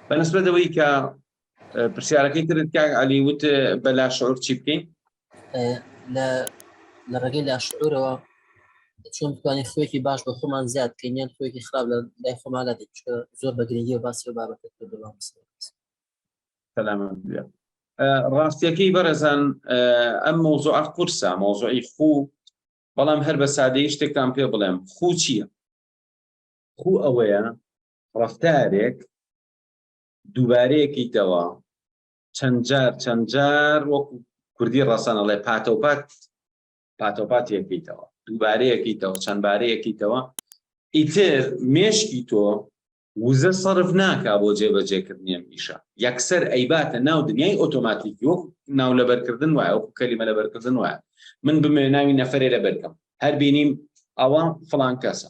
بە نسبەت ئەوەی کە پرسیارەکەی ترت کاک علی وت بە لاشعور چی بکەین لە ڕێگەی لاشعورەوە چۆن بتوانین خوێکی باش بە خۆمان زیاد کەینیان خوێکی خراپ لە لای خۆمالا دێت زۆر بە گرنگی و باسی بابەت سەلامان ڕاستیەکەی بەرەزان ئەم مۆزۆ قورسە مۆزۆی خوو بەڵام هەر بە سادەی شتێکتان پێ بڵێم خوو چییە خوو ئەوەیە ڕەفتارێک دووبارەیەکەیتەوە چەند جار چەند جار وەکو کوردی ڕەسەنەڵێ پاتەوپات پاتەوپات یەکەیتەوە دووبارەیەکەیتەوە چەند بارەیەکەیتەوە ئیتر مێشکی تۆ وزە سەرف ناکا بۆ جێبەجێکردنیان پیشە یەکسەر ئەیباتە ناو دنیای ئۆتۆماتیکی وەک ناو لەبەرکردن وایە وەکو کەلیمە لەبەرکردن وایە من بمێ ناوی نەفرێ لەبەرکەم هەر بینیم ئەوە فلان کەسە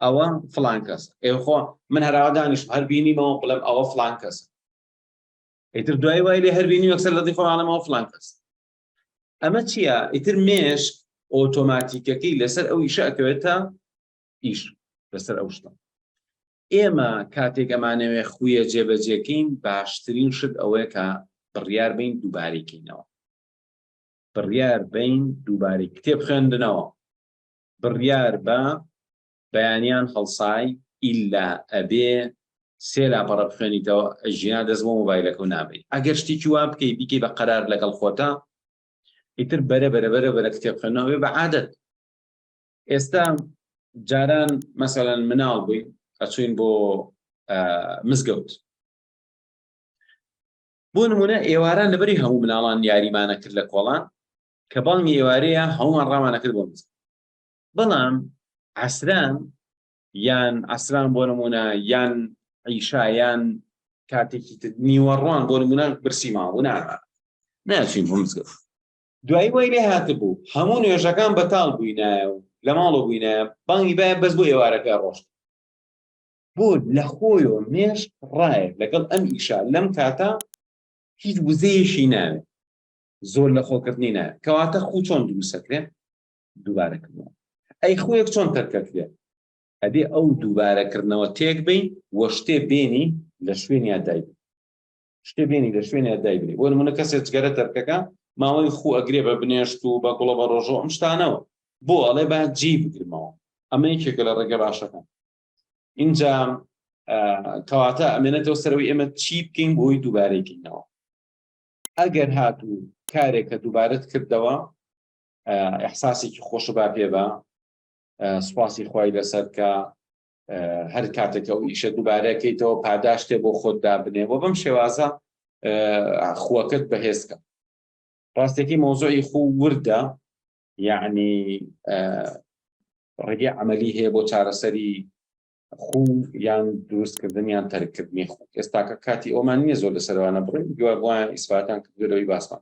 ئەوە فلان کەس ئێ خۆ من هەراوا دانیش هەر بینیمەوە بڵێم ئەوە فلان کەس ئیتر دوای وای لێ هەربینی وەکسەر لەدی خۆڵانەوە فلان کەس ئەمە چییە ئیتر مێش ئۆتۆماتیکەکەی لەسەر ئەو ئیشە ئەکەوێت تا ئیش لەسەر ئەو شتە ئێمە کاتێک ئەمانەوێ خویە جێبەجێکەین باشترین شت ئەوەیە کە بڕیار بین دووبارەکەینەوە بڕیار بین دووبارەی کتێب خوێندنەوە بڕیار بە بەیانیان هەڵسای ئیلا ئەبێ سێ لاپەڕە بخوێنیتەوە ژینا دەست بۆ مۆبایلەکەو نابەی ئەگەر شتێکی وا بکەی بیکەی بە قەرار لەگەڵ خۆتا ئیتر بەرە بەرە بەرە بەرە کتێب خوێنەوەێ بە عادەت ئێستا جاران مەسەلەن مناڵ بووی ئەچوین بۆ مزگەوت بۆ نمونە ئێواران لەبەری هەموو مناڵان یاریمانە کرد لە کۆڵان کە بانگی ئێوارەیە هەموومان ڕامانە کرد بۆ مزگەوت بەڵام عەسران یان عەسران بۆ نمونە یان عیشا یان کاتێکی تر نیوەڕوان بۆ نمونە برسی ماوە نامان ناچین بۆ مزگەوت دوایی وای لێ هاتبوو هەموو نوێژەکان بەتاڵ بووینایە و لە ماڵۆ بووینایە بانگی باە بەس بۆ ئێوارەکە ڕۆشت بۆ لە خۆیەوە مێش ڕایە لەگەڵ ئەم ئیشا لەم کاتە هیچ وزەیەشی ناوێت زۆر لە خۆکردنی نایە کەواتە خوو چۆن دروستەکرێ دووبارەکردنەوە ئەی خوێک چۆن تەرکەکرێ ئەبێ ئەو دووبارەکردنەوە تێک بین وە شتێ بێنی لە شوێن یادای شتێ بێنی لە شوێن یادای بێ بۆ منە کەسێ جگەرە تەرکەکە ماوەی خوو ئەگرێ بە بنێشت و بە گوڵە بە ڕۆژۆ ئەم شتانەوە بۆ ئەڵێ با جی بگرمەوە ئەمە یەکێکە لە ڕێگە باشەکان اینجا کەواتە ئەمێنێتەوە سەرەوەی ئێمە چی بکەین بۆی دووبارەی بکەینەوە ئەگەر هاتوو کارێکە دووبارەت کردەوە ئەحساسێکی خۆش با پێ بە سوپاسی خی لەسەر کە هەر کاتێکە و ئیشە دووبارەکەیتەوە پاداشتێ بۆ خۆت دابنێ بۆ بەم شێوازە خوەکەت بەهێزکە ڕاستێکی مۆزۆی خوو وردە یعنی ڕێگەی عملی هەیە بۆ چارەسەری خو یان دروستکردن یان تەرککردنی خو ئێستاکە کاتی ئەومان نییە زۆر لە سەروانە بڕین دوای بۆیان ئیسفاتان کردەوەی باسمان